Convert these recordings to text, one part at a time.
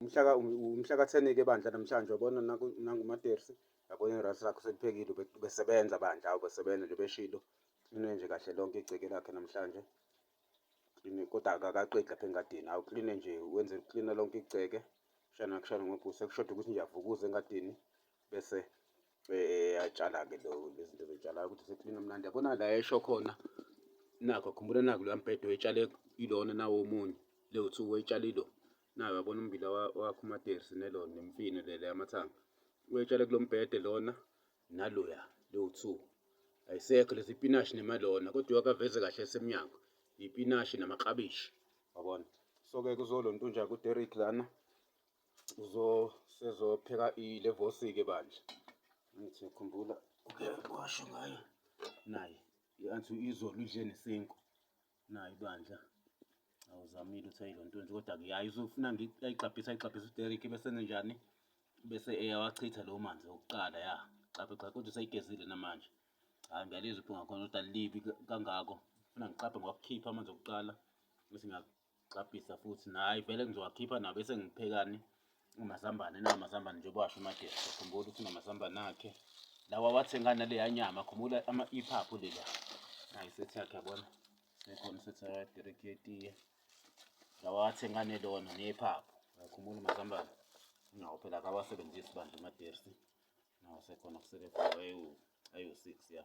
umhlaka umhlaka thenike bandla namhlanje wabona nangumatersi yabona irasi lakho seliphekile ubesebenza bandla ubesebenza nje beshilo kline nje kahle lonke igceke lakhe namhlanje kline kodwa akakaqedi lapha engadini awu kline nje wenze kline lonke igceke shana kushana ngobhusa kushoda ukuthi nje avukuze engadini bese eh, atshala-ke lo lezinto zitshalayo ukuthi sekline mnandi yabona la esho khona nakho khumbula naku loya mbhedo etshale ilona nawo omunye lewu-two wetshale ilo Nayi uyabona ummbila wakho umaterisi neloni nemfino lele amathanga. Uyetshale kulo mbhede lona naloya lowu-two. Ayisekho lezi ipinashi nemalona kodwa uyakaveze kahle esemnyango. Ipinashi namaklabishi. Yabona. So-ke kuzolonto nje kuDerrick lana uzosezopheka ilevosi-ke bandla. Ngithi khumbula uke washo ngayo naye. I-anti izolo idle nesinkwa. nayo ibandla awuzamile uthi ayilo ntonje kodwa-ke yayi uzofuna ayigxabhisa ayigxabhisa uderik bese nenjani bese eyawachitha lowo manzi okuqala ya xaphe xaphe kodwa usayigezile namanje hhayi ngiyalizwa iphunga khona kodwa libi kangako funa ngiqaphe ngokukhipha amanzi okuqala bese ngiyagxabhisa futhi nayi vele ngizowakhipha nawo bese ngiphekani Amazambane nawo amazambane njengoba washo uMagesa. Khumbula ukuthi unamazambane akhe. Lawa wathenga naleya nyama. Khumbula ama iphaphu lela. Nayi sethi yakhe yabona. Sekhona sethi akadireki yetiye. Lawa wathenga nelona nephaphu. Khumbula amazambane. Nawo phela akawasebenzisi bandla uMadersi. Nawo sekhona kusele ayu ayu 6 ya.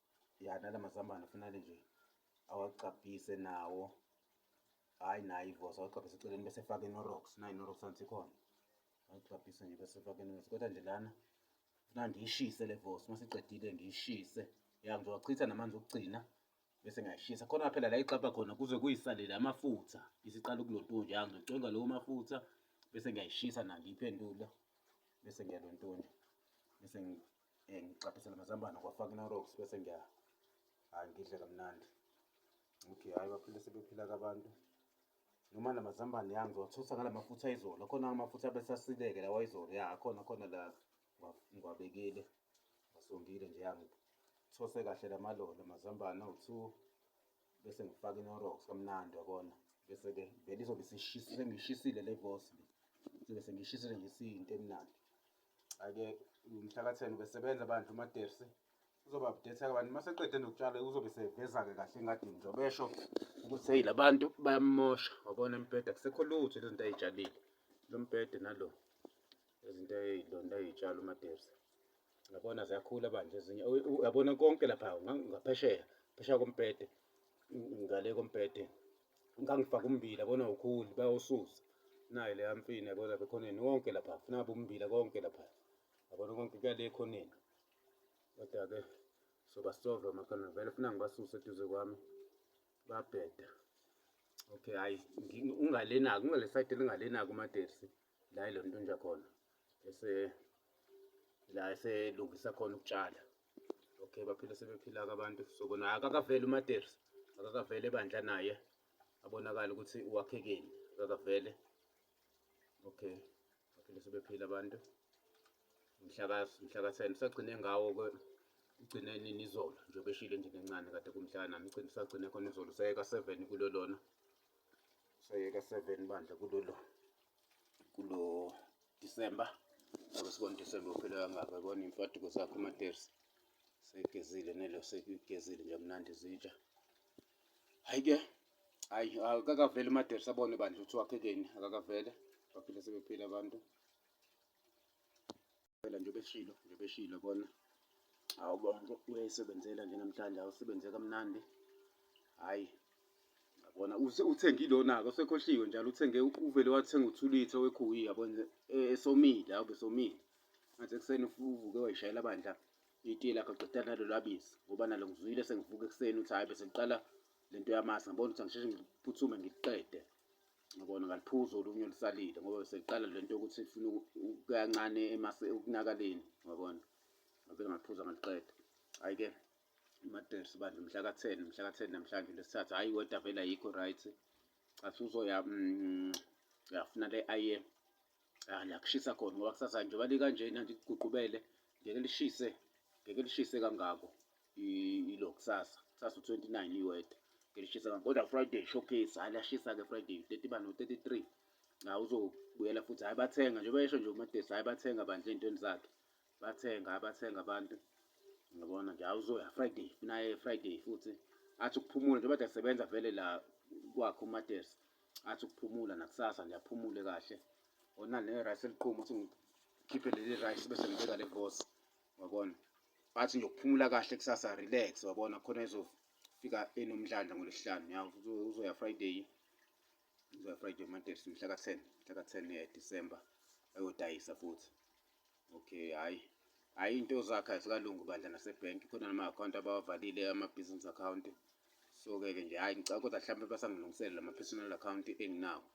ya nala mazambane kufanele nje awagcabhise nawo hhayi naye ivosi awagcabhise eceleni bese efake inorox nayo inorox anti ikhona awagcabhise nje bese efake inorox kodwa nje lana funa ndiyishise le vosi uma siqedile ngiyishise ya ngizowachitha namanzi okugcina bese ngiyashisa khona phela la ixabha khona kuze kuyisalele amafutha isiqala ukulontunja ya ngizocwenga lowo mafutha bese ngiyayishisa na ngiyiphendula bese ngiyalontunja bese Eh ngicaphesela amazambane kwafaka inorox bese ngiya hayi ngidle kamnandi. Okay hayi baphile sebephila kabantu. Noma namazambane yami ngiwathusa ngala mafutha izolo. Khona amafutha bese asileke lawa izolo. Ya khona khona la ngiwabekile. Ngasongile nje yangi those kahle lamalolo amazambane awu-two bese ngifaka inorox kamnandi wabona bese-ke vele izobe sengiyishisile le vosi le sobe sengiyishisile nje siyinto emnandi ake umhlaka 10 ubesebenza bandla umadersi uzoba update abantu uma seqede nokutshala uzobe seveza-ke kahle engadini njengoba esho ukuthi heyi la bantu bayamosha wabona embheda kusekho lutho lezi zinto ayitshalile lo mbhede nalo izinto ayilonto ayitshala umadersi yabona ziyakhula bandla ezinye uyabona konke lapha ngaphesheya phesheya kombhede ngale kombhede ngangifaka ummbila bona ukhuli bayawususa nayo leya mfina yabona lapha ekhoneni wonke lapha funa ngabe ummbila konke lapha yabona konke kuyale ekhoneni kodwa-ke sobasova makhona vele funa ngibasuse eduze kwami babheda okay hayi ungalenaki ungale sayidi elingalenaki umatersi la ilo nto nje khona ese la eselungisa khona ukutshala okay baphila sebephila-ke abantu so kona akakaveli umateris akakavele ebandla naye abonakala ukuthi uwakhekeni akakavele okay baphila sebephila abantu mhlaka-ten usagcine ngawo-ke ugcine nini izolo njengoba eshile endlini encane kade kumhlaka nami ugcine usagcine khona izolo usayeka seven kulo lona usayeka seven bandla kulo lona kulo December ngoba sibona December uphele kangaka yabona imfaduko zakho amatersi segezile nelo sekugezile nje mnandi zitsha hayi ke hayi akakaveli amatersi abone bandla ukuthi wakhekeni akakavele baphile sebephile abantu phela nje beshilo nje beshilo bona hawu bonke uyayisebenzela nje namhlanje awusebenze kamnandi hhayi yabona uthenge ilona-ke osekhohliwe njalo uthenge uvele wathenga uthulithe wekhuyi yabona e, esomile hawu besomile ngathi ekuseni uvuke wayishayela bandla itiye lakhe uqeda nalo lwabisi ngoba nalo ngizwile sengivuka ekuseni ukuthi hhayi bese ngiqala le nto yamasi ngibona ukuthi angisheshe ngiphuthume ngiliqede ngibona ngaliphuza olunye olusalile ngoba seqala le nto yokuthi funa kancane ekunakaleni ngabona ngabe ngaliphuza ngaliqeda hhayi-ke imatresi bandla mhla ka-ten mhla ka-ten namhlanje lesithathu hhayi weda vele ayikho right asiwuzoya um mm, uyafuna le aye ah, la kushisa khona ngoba kusasa njengoba likanjena nje kuguqubele ngeke lishise ngeke lishise kangako ilo kusasa kusasa u-29 iweda ngeke lishise kangako kodwa friday showcase hhayi liyashisa-ke friday 30 bani u-33 la uzobuyela futhi hhayi bathenga njengoba esho nje umatesi hhayi bathenga bandla ey'ntweni zakhe bathenga abathenga abantu ngiyabona nje awuzoya friday funa ye friday futhi athi ukuphumula njengoba nje sebenza vele la kwakhe umatesi athi ukuphumula nakusasa nje aphumule kahle ona ne rice eliqhuma uthi ngikhiphe leli rice bese ngibeka le vosi wabona athi nje ukuphumula kahle kusasa relax wabona khona ezofika enomdlandla ngolesihlanu ya uzoya friday Ngizoya Friday Monday mhla ka 10 mhla ka 10 eh, December ayodayisa futhi okay hayi hayi into zakhe azikalungi bandla nasebhenki khona nama-akhawunti abawavalile ama-business account so-ke ke nje hhayi ngicabanga kodwa mhlawumbe basangilungisele la ma-personal account enginawo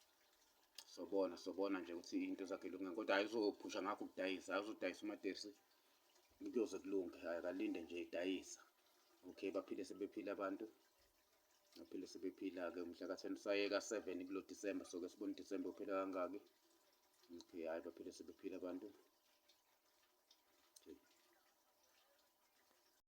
sobona sobona nje ukuthi into zakhe lungeni kodwa hhayi uzophusha ngakho ukudayisa hhayi uzodayisa umaterisi kuyoze kulunge hhayi kalinde nje idayisa okay baphile sebephile abantu ngaphinde sibephila-ke umhla ka-ten sayeka seven kulo disemba soke sibona udisemba uphela kangaki okay hhayi baphinde sebephila abantu